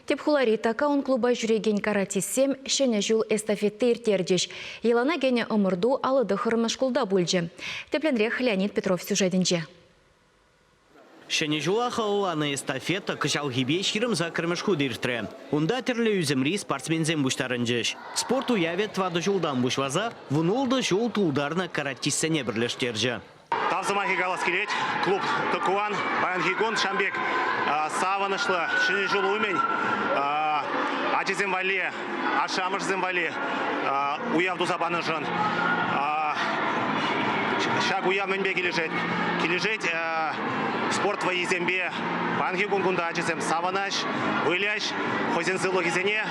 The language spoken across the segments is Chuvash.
Тӗп хулари такаун клуба ҫӳрекен каратистсем Ҫӗнӗ ҫул эстафети ирттерчӗҫ. Йӑлана кӗнӗ ӑмӑрту аллӑ тӑххӑрмӗш шкулта пулчӗ. Тӗплӗнрех Леонид Петров сюжетӗнче. Ҫӗнӗ ҫула халалланӑ эстафета кӑҫалхипе ҫирӗм саккӑрмӗш хут иртрӗ. Унта тӗрлӗ ӳсӗмри спортсменсем пуҫтарӑнчӗҫ. Спорт уявӗ тӑватӑ ҫултан пуҫласа вун ултӑ ҫул тултарнӑ каратистсене пӗрлештерчӗ. Тав сӑмахӗ калас килет. Клуб Тӑкуан паянхи кун ҫавӑн пек савӑнӑҫлӑ Ҫӗнӗ ҫул умӗн ачасем валли, ашшӗ-амӑшӗсем валли уяв туса панӑшӑн ҫак уяв мӗнпе килӗшет? Килӗшет спорт вӑййисемпе. Паянхи кун кунта ачасем савӑнӑҫ, выляҫ, хӑйсен сывлӑхӗсене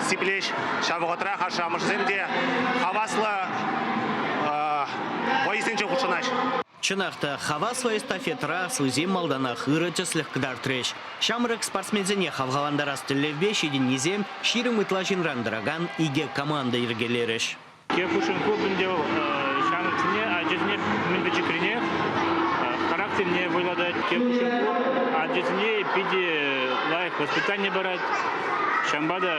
сиплӗҫ. Ҫав вӑхӑтрах ашшӗ-амӑшӗсем те хаваслӑ Вӑйӑсенче хутшӑнать. Чӑнах та, хаваслӑ эстафетӑра слуйсем малтанах ырӑ тӗслӗх кӑтартрӗҫ. Ҫамрӑк спортсменсене хавхалантарас тӗллевпе ҫитӗннисем ҫирӗм ытла ҫынран тӑракан икӗ команда йӗркелерӗҫ. Хушин клуб ӗнтӗ ҫамрӑксене ачасене мӗн пӗчӗкрине, характерне вӑйлатать. Хушин клуб ачасене питӗ лайӑх воспитани парать. Ҫавӑнпа та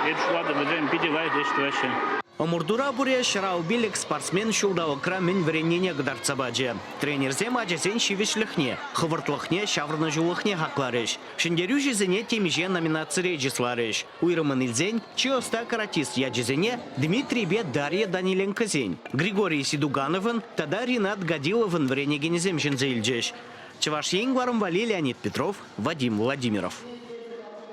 эпӗ шутлатӑп, вӗсем питӗ лайӑх ӗҫ тӑваҫҫӗ. Ӑмӑртура пуре ҫӑрав-пилӗк спортсмен ҫулталӑкра мӗн вӗреннине кӑтартса пачӗ. Тренерсем ачасен ҫивӗчлӗхне, хӑвӑртлӑхне, ҫаврӑнӑҫулӑхне хакларӗҫ. Ҫӗнтерӳҫӗсене темиҫе номинацире чысларӗҫ. Уйрӑммӑн илсен, чи ӑста каратист ячӗсене Дмитрийпе Дарья Даниленкосен, Григорий Сидугановӑн тата Ринат Гадиловӑн вӗренекенӗсем ҫӗнсе илчӗҫ. Чӑваш Ен кӑларӑмпа Леонид Петров, Вадим Владимиров.